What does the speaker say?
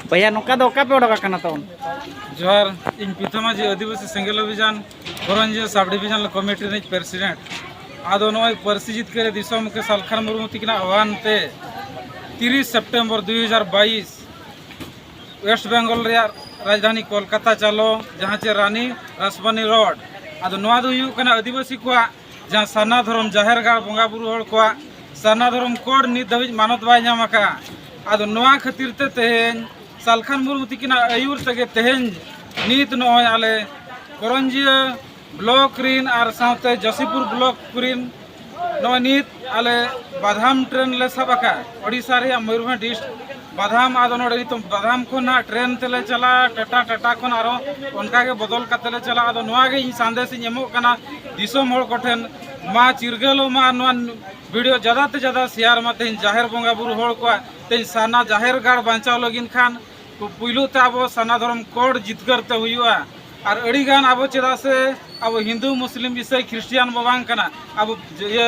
ᱵᱚᱭᱦᱟ ᱱᱚᱝᱠᱟ ᱫᱚ ᱚᱠᱟ ᱯᱮ ᱚᱰᱚᱠ ᱟᱠᱟᱱᱟ ᱛᱚ ᱡᱚᱦᱟᱨ ᱤᱧ ᱯᱤᱛᱷᱟ ᱢᱟᱹᱡᱷᱤ ᱟᱹᱫᱤᱵᱟᱹᱥᱤ ᱥᱮᱸᱜᱮᱞ ᱚᱵᱷᱤᱡᱟᱱ ᱠᱚᱨᱚᱱᱡᱤᱭᱟᱹ ᱥᱟᱵ ᱰᱤᱵᱷᱤᱡᱚᱱ ᱠᱚᱢᱤᱴᱤ ᱨᱤᱱᱤᱡ ᱯᱨᱮᱥᱤᱰᱮᱱᱴ ᱟᱫᱚ ᱱᱚᱜᱼᱚᱭ ᱯᱟᱹᱨᱥᱤ ᱡᱤᱛᱠᱟᱹᱨ ᱫᱤᱥᱚᱢ ᱢᱩᱠᱷᱤ ᱥᱟᱞᱠᱷᱟᱱ ᱢᱩᱨᱢᱩ ᱛᱤᱠᱤᱱᱟᱜ ᱟᱦ୍ᱣᱟᱱ ᱛᱮ ᱛᱤᱨᱤᱥ ᱥᱮᱯᱴᱮᱢᱵᱚᱨ ᱫᱩᱭ ᱦᱟᱡᱟᱨ ᱵᱟᱭᱤᱥ ᱳᱭᱮᱥᱴ ᱵᱮᱝᱜᱚᱞ ᱨᱮᱭᱟᱜ ᱨᱟᱡᱽᱫᱷᱟᱱᱤ ᱠᱳᱞᱠᱟᱛᱟ ᱪᱟᱞᱚ ᱡᱟᱦᱟᱸ ᱪᱮ ᱨᱟᱱᱤ ᱨᱟᱥᱵᱟᱱᱤ ᱨᱳᱰ ᱟᱫᱚ ᱱᱚᱣᱟ ᱫᱚ ᱦᱩᱭᱩᱜ ᱠᱟᱱᱟ ᱟᱹᱫᱤᱵᱟᱹᱥᱤ ᱠᱚᱣᱟᱜ ᱡᱟᱦᱟᱸ ᱥᱟᱨᱱᱟ ᱫᱷᱚᱨᱚᱢ ᱡᱟᱦᱮᱨ ᱜᱟᱲ ᱵᱚᱸᱜᱟ ᱵᱩᱨᱩ ᱦᱚᱲ ᱠᱚᱣᱟᱜ ᱥᱟᱨᱱᱟ ᱫᱷᱚᱨᱚᱢ ᱠᱳᱰ ᱱᱤᱛ ᱫᱷᱟᱹᱵᱤᱡ ᱢᱟᱱᱚᱛ ᱵᱟᱭ ᱧᱟᱢ ᱟᱠᱟᱫᱼᱟ ᱟᱫᱚ ᱱᱚᱣᱟ ᱠᱷᱟᱹᱛᱤᱨ ᱛᱮ ᱛᱮᱦᱮᱧ ᱥᱟᱞᱠᱷᱟᱱ ᱢᱩᱨᱢᱩ ᱛᱤᱠᱤᱱᱟᱜ ᱟᱹᱭᱩᱨ ᱛᱮᱜᱮ ᱛᱮᱦᱮᱧ ᱱᱤᱛ ᱱᱚᱜᱼᱚᱭ ᱟᱞᱮ ᱠᱚᱨᱚᱱᱡᱤᱭᱟᱹ ᱵᱞᱚᱠ ᱨᱤᱱ ᱟᱨ ᱥᱟᱶᱛᱮ ᱡᱚᱥᱤᱯᱩᱨ ᱵᱞᱚᱠ ᱨᱤᱱ ᱱᱚᱜᱼᱚᱭ ᱱᱤᱛ ᱟᱞᱮ ᱵᱟᱫᱷᱟᱢ ᱴᱨᱮᱱ ᱞᱮ ᱥᱟᱵ ᱟᱠᱟᱫᱼᱟ ᱳᱰᱤᱥᱟ ᱨᱮᱭᱟᱜ ᱢᱚᱭᱩᱨᱵᱷᱚᱸᱡᱽ ᱰᱤᱥᱴᱨᱤᱠ ᱵᱟᱫᱷᱟᱢ ᱟᱫᱚ ᱱᱚᱰᱮ ᱱᱤᱛᱚᱜ ᱵᱟᱫᱷᱟᱢ ᱠᱷᱚᱱ ᱦᱟᱸᱜ ᱴᱨᱮᱱ ᱛᱮᱞᱮ ᱪᱟᱞᱟᱜᱼᱟ ᱴᱟᱴᱟ ᱴᱟᱴᱟ ᱠᱷᱚᱱ ᱟᱨᱚ ᱚᱱᱠᱟ ᱜᱮ ᱵᱚᱫᱚᱞ ᱠᱟᱛᱮ ᱞᱮ ᱪᱟᱞᱟᱜᱼᱟ ᱟᱫᱚ ᱱᱚᱣᱟ ᱜᱮ ᱤᱧ ᱥᱟᱸᱫᱮᱥ ᱤᱧ ᱮᱢᱚᱜ ᱠᱟᱱᱟ ᱫᱤᱥᱚᱢ ᱦᱚᱲ ᱠᱚᱴᱷᱮᱱ ᱢᱟ ᱪᱤᱨᱜᱟᱹᱞᱚᱜ ᱢᱟ ᱱᱚᱣᱟ ᱵᱷᱤᱰᱤᱭᱳ ᱡᱟᱫᱟ ᱛᱮ ᱡᱟᱫᱟ ᱥᱮᱭᱟᱨ ᱢᱟ ᱛᱮᱦᱮᱧ ᱡᱟᱦᱮᱨ ᱵᱚᱸᱜᱟ ᱵᱩᱨᱩ ᱦᱚᱲ ᱠᱚᱣᱟᱜ ᱛᱮᱦᱮᱧ ᱥᱟᱨᱱᱟ ᱡᱟᱦᱮᱨ ᱜᱟᱲ ᱵᱟᱧᱪᱟᱣ ᱞᱟᱹᱜᱤᱫ ᱠᱷᱟᱱ ᱯᱩᱭᱞᱩ ᱛᱮ ᱟᱵᱚ ᱥᱟᱨᱱᱟ ᱫᱷᱚᱨᱚᱢ ᱠᱚᱲ ᱡᱤᱛᱠᱟᱹᱨ ᱛᱮ ᱦᱩᱭᱩᱜᱼᱟ ᱟᱨ ᱟᱹᱰᱤ ᱜᱟᱱ ᱟᱵᱚ ᱪᱮᱫᱟᱜ ᱥᱮ ᱟᱵᱚ ᱦᱤᱱᱫᱩ ᱢᱩᱥᱞᱤᱢ ᱤᱥᱟᱹᱭ ᱠᱷᱨᱤᱥᱴᱤᱭᱟᱱ ᱵᱚ ᱵᱟᱝ ᱠᱟᱱᱟ ᱟᱵᱚ ᱤᱭᱟᱹ